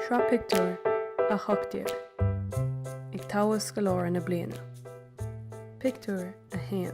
Sraith Pictiúr 18 Ag Toghadh Scoláire na Bliana Pictiúr 1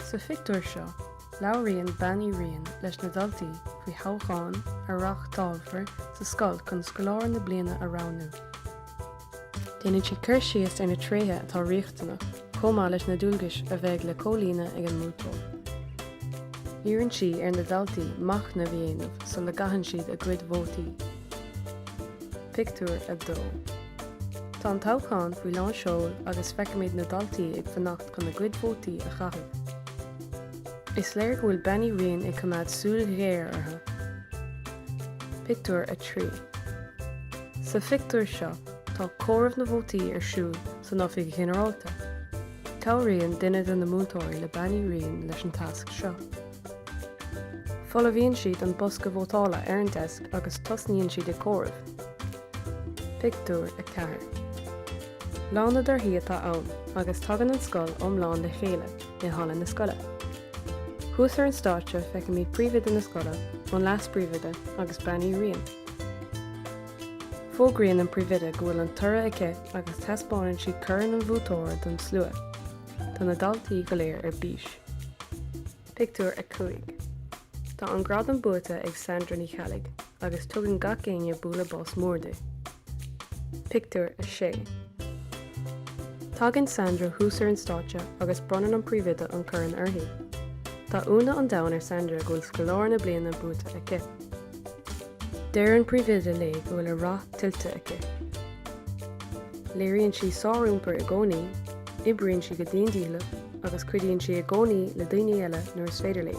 Sa phictiúr seo, labhraíonn Bean Uí Riain leis na daltaí faoi thoghchán a reáchtálfar sa scoil chun Scoláire na Bliana a roghnú. Déanann sí cur síos ar na tréithe atá riachtanach chomh maith leis na dualgais a bheidh le comhlíonadh ag an mbuaiteoir. Iarrann sí ar na daltaí machnamh a dhéanamh sula gcaitheann siad a gcuid vótaí. Pictiúr 2 Tá an toghchán faoi lán seoil agus feicimid na daltaí ag fanacht chun a gcuid vótaí a chaitheamh. Is léir go bhfuil Bean Uí Riain ag coimeád súil ghéar orthu. Pictiúr 3 Sa phictiúr seo tá comhaireamh na vótaí ar siúl san Oifig Ghinearálta. Cabhraíonn duine de na múinteoirí le Bean Uí Riain leis an tasc seo. Folmhaíonn siad an bosca vótála ar an deisc agus tosnaíonn siad ag comhaireamh. Pictiúr 4 Lá na dtorthaí atá ann agus tagann an scoil iomlán le chéile. i halla na scoile. Thuas ar an stáitse feicimid Príomhoide na scoile, an Leas-Phríomhoide agus Bean Uí Riain. Fógraíonn an Príomhoide go bhfuil an toradh aici agus taispeánann sí corn an bhuaiteora don slua. Tá na daltaí go léir ar bís. Pictiúr 5. Tá an gradam buaite ag Sandra Ní Cheallaigh agus tugann gach éinne bualadh bos mór di. Pictiúr 6 Tagann Sandra thuas ar an stáitse agus bronnann an príomhoide an corn uirthi. Tá ionadh an domhain ar Sandra go bhfuil Scoláire na Bliana buaite aici. Deir an príomhoide léi go bhfuil a rath tuillte aici. Léiríonn sí sár-iompar i gcónaí, oibríonn sí go dian dícheallach agus cuidíonn sí i gcónaí le daoine eile nuair is féidir léi.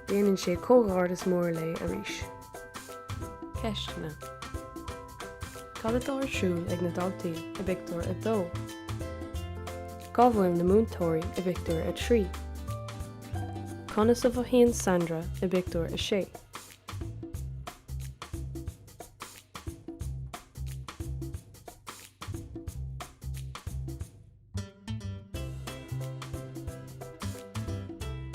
Déanann sí comhghairdeas mór léi arís. Ceisteanna, Cad atá ar siúl ag na daltaí i bpictiúr 2? Cá bhfuil na múinteoirí i bpictiúr 3? Conas a mhothaíonn Sandra i bpictiúr 6?